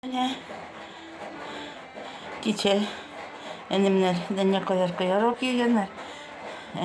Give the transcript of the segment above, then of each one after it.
Менә кичә әнемнәр дәнә кадәр кыярлар кигәннәр.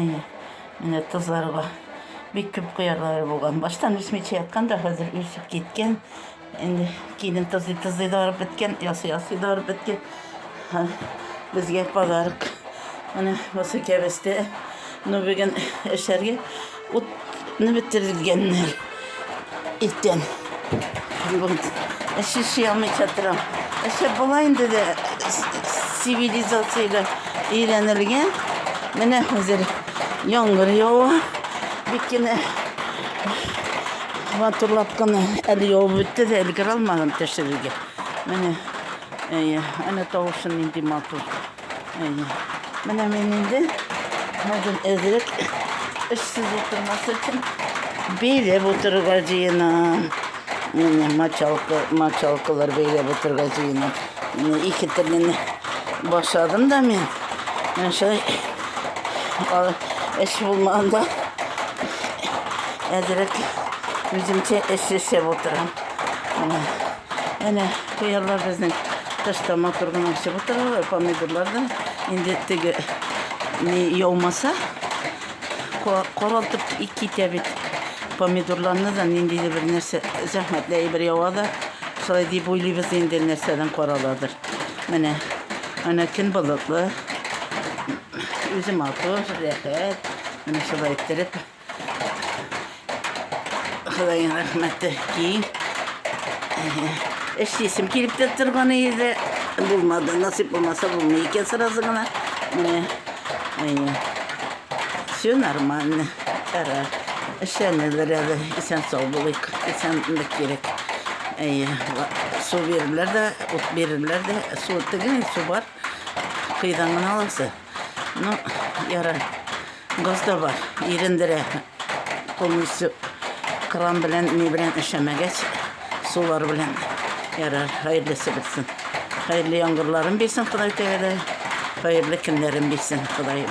Әйе, менә тозларга бик күп кыярлары булган. Баштан үсмичә яткан да хәзер үсеп киткән. Инде килен тозый тозый да арып беткән, ясый ясый да арып беткән. Һәм Безгә подарок. Менә бусы кәбестә. Ну бүген эшләргә Утны бетерелгәннәр. Иртән. Әши ши алмый чатырам. Әшә була инде дә цивилизациягә өйрәнелгән. Менә хәзер яңгыр ява. Бик кенә матурлап кына әле явып бетте дә өлгерә алмадым төшерергә. Менә әйе, әнә тавышын нинди матур. Әйе. Менә мин инде хәзер әзрәк эшсез утырмас өчен бәйләп утырырга җыенам. Менә мочалка, мочалкалар бәйләп утырырга җыенам. Менә ике телне башладым да мин. Менә шулай эш булмаганда әзрәк үземчә эш ясап утырам. Әнә Кыярлар безнең тышта матур гына үсеп утыралар, помидорлар да инде теге ни яумаса коралтып китә бит. Помидорларны да ниндидер бер нәрсә зәхмәтле әйбер ява да шулай дип уйлыйбыз инде нәрсәдән караладыр. Менә ана көн болытлы, үзе матур, рәхәт. Менә шулай иттереп Ходаен рәхмәте ки. Эшлисем килеп тә торган иде. Булмады. Насип булмаса булмый икән сразу гына. Менә. Әйе. Все нормально. Кара. Эшләнелер әле. Исән сау булыйк. Исәнлек кирәк. Әйе. Су бирерләр дә, ут бирерләр дә. Су тегең, су бар. Кыйдан гына аласы. Ну, яра, газда бар, ирендерә полностью кран белән, ни белән эшәмәгәч, сулар белән ярар, хәерлесе бетсен. Хәерле яңгырларын бирсен Ходай тәгәлә, хәерле көннәрен бирсен Ходаем.